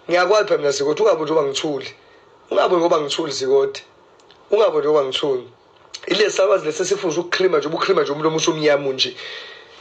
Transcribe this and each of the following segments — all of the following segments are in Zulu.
ngiyakwazi phela mina sikoti ungabi njengoba ngithuli ungabi ngoba ngithuli sikoti ungabi njengoba ngithuli ile salwazi lesi sifuza ukuklima nje ubuklima nje umlomo usumnyama nje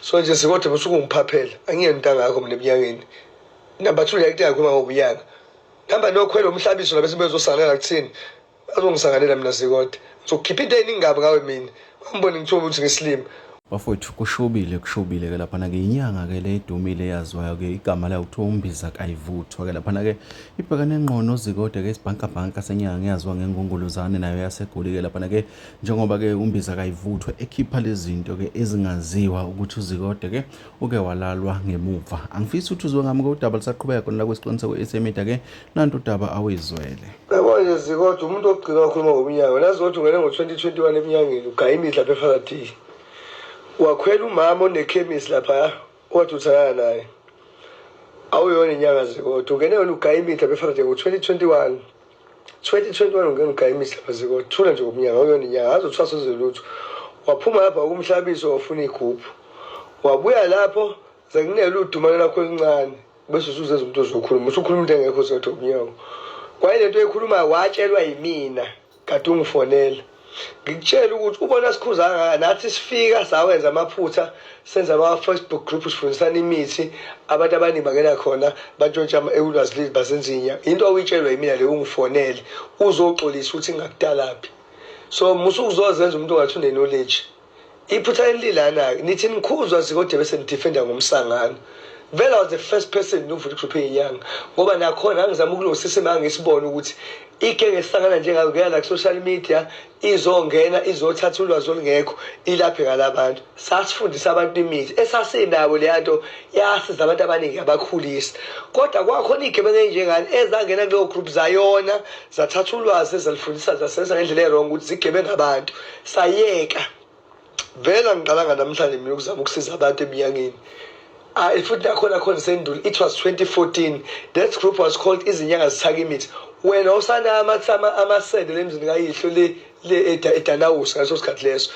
so nje sikoti musuke ungiphaphela angiyena into angakho mina ebunyangeni number two ngiyakudinga khuluma ngobunyanga number nokhwela umhlabiso nabesibezosangana kuthini azongisangalela mina sikode ngizokhipha into eyiningi kabi ngawe mina bangibone ngithiwa ukuthi ngisilima bafowethu kushubile kushubile ke laphana ke inyanga ke le idumile eyaziwayo ke igama layo kuthiwa umbiza kayivuthwa ke laphana ke ibhekane ngqono zikode ke isibhankabhanka senyanga eyaziwa ngengongolozane nayo yasegoli ke laphana ke njengoba ke umbiza kayivuthwa ekhipha lezinto ke ezingaziwa ukuthi uzikode ke uke walalwa ngemuva angifisi ukuthi uzwe ngami kodaba lisaqhubeka khona la kwesiqiniseko esemida ke nanto udaba awuyizwele yabo nje zikodwa umuntu ogcina wakhuluma ngomnyango nazi ukuthi ungene ngo-2021 emnyangeni ugaya imithi lapha ephakathini wakhwela umama onekhemisi lapha owathi uthandana naye awuyona inyanga zikodwa ungene yona ugaya imithi lapha ephakathini ngo-2021 2021 ungena ugaya imithi lapha zikodwa thula nje ngomnyango awuyona inyanga azi uthwasa uzolutho waphuma lapha ukumhlabiso wafuna igubhu wabuya lapho zekunele udumane lakho elincane bese usuzenza umuntu ozokhuluma usukhuluma into engekho uzotha umnyango kwaye lento ekhulumayo watshelwa yimina kade ungifonela ngikutshela ukuthi ubona sikhuza kangaka nathi sifika sawenza amaphutha senza ama-facebook group sifundisana imithi abantu abaningi bangena khona bantshontsha ulwazi leli bazenzinya into awuyitshelwa yimina le ungifonele uzoxolisa ukuthi ngakudalaphi so musukuzozenza umuntu ongathi unenoleji iphutha elilana-ke nithi nikhuzwa zikode bese nidifenda ngomsangano vele was the first person nokuvula igroup yenyanga ngoba nakhona angizama ukulungisa isimo angisibona ukuthi ikenge sihlangana njengayo kuya la ku-social media izongena izothatha ulwazi olungekho ilaphe ngalabantu sasifundisa abantu imithi esasinawo leya nto yasiza abantu abaningi yabakhulisa kodwa kwakhona iy'gebengu ey'njengani ezangena kuleyo group zayona zathatha ulwazi ezalifundisa zasenza ngendlela erong ukuthi zigebenga abantu sayeka vele angiqalanga namhlanje mina ukuzama ukusiza abantu eminyangeni hayi futhi nakhona khona sendulo it was 2014 that group was called izinyanga zithaka imithi wena usana amathama amasende lemzini kayihlo le le edanawusa ngaso sikhathi leso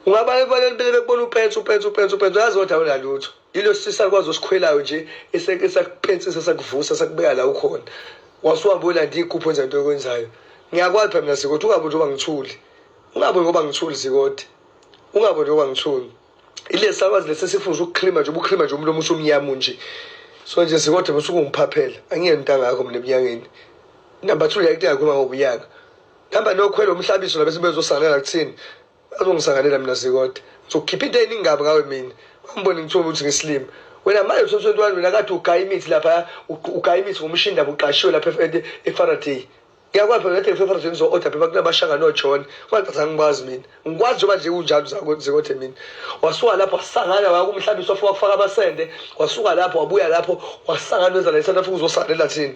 ungaba ebaleni bele bekubona upensa upensa upensa upensa uyazi kodwa awunalutho Yilo sisa kwazi osikhwelayo nje esakupensisa sakuvusa sakubeka la ukhona. Wasuhamba uyolanda iy'gubhu enza into okwenzayo. Ngiyakwazi phela mina Sikoti ungabe njengoba ngithuli. Ungabe ngoba ngithuli Sikoti. Ungabe njengoba ngithuli. Ilesi sakwazi lesi sifuna ukuklima nje ubuklima nje umlomo usumnyama nje. So nje Sikoti musuke ungiphaphela. Angiyeni into angakho mina ebunyangeni. Number 2 yayithi ngakhuluma ngobunyanga. Hamba nokhwela umhlabiso labese bezosangana kuthini. azongisanganela mina sikoda ngizokhipha into eningabi ngawe mina wambona ngithiwa ukuthi ngisilima wena manje usemsweni wani wena kathi ugaya imithi lapha ugaya imithi ngomshini ndaba uqashiwe lapha efaraday ngiyakwazi phela ngathi ngifefaraday ngizo-oda phela kunabashanga nojohn kwangicazange ngikwazi mina ngikwazi njengoba nje kunjalo zakothe mina wasuka lapho wasangana wakumhlabisa wafika wakufaka amasende wasuka lapho wabuya lapho wasangana wenza la i-south africa uzosanela thini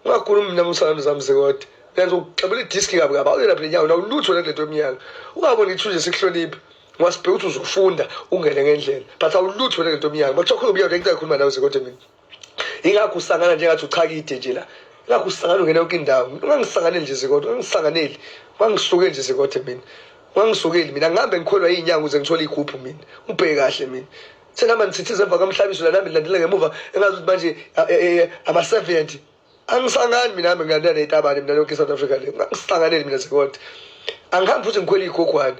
ungakhulumi mina musana zamse kodwa uyazi ukuxabela idiski kabi kabi awuyena phela inyawo nawulutho le nto emnyanga ungaboni ithunje sikuhloniphe ungasibheka ukuthi uzofunda ungene ngendlela but awulutho le nto emnyanga bakuthiwa khuluma iyawu lento ayikhuluma nawe zekodwa mina ingakho usangana njengathi uchakide nje la ingakho usangana ungena yonke indawo ungangisanganeli nje zekodwa ungangisanganeli ungangisukeli nje zekodwa mina ungangisukeli mina ngihambe ngikholwa iy'nyanga ukuze ngithole iy'gubhu mina ubheke kahle mina sengihamba ngithithiza emva kwamhlabiso lana mina ndilandela ngemuva engazi ukuthi manje ama-70 angisangani mina hami ngilandela neyitabane mina yonke i-south africa le angisanganeli mina sekodwa angihambi futhi ngikhwela iy'gogwane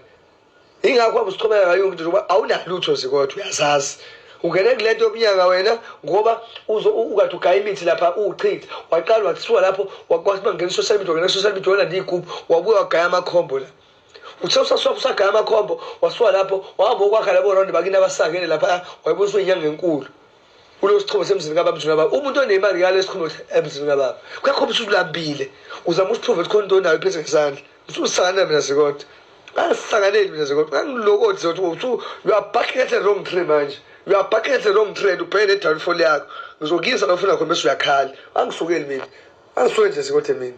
yingakho wabe usichomela ngayo yonke into ngoba awunalutho zikodwa uyazazi ungene kule nto yokunyanga wena ngoba ukade ugaya imithi lapha uwuchithe waqala wathiwa lapho wakwathi uma ngena i-social media wangena i-social media wona ndiyigubhu wabuye wagaya amakhombo la uthe usaswakusagaya amakhombo wasuka lapho wahamba okwakha labo ronde bakini abasakele lapha wayebuye usuyinyanga enkulu kulo sichome semzini kababa mzini kababa umuntu onemali ngale sichome emzini kababa kuyakhomba ukuthi ulambile uzama usiprove ukuthi khona into onayo iphethe ngesandla ususanganela mina sikodwa angisanganeli mina sikodwa angilokothi zokuthi usu you are barking at the wrong tree manje you are barking at the wrong tree and ubheke nedownfall yakho ngizokuyisa lofuna khona bese uyakhala angisukeli mina angisukeli nje sikodwa mina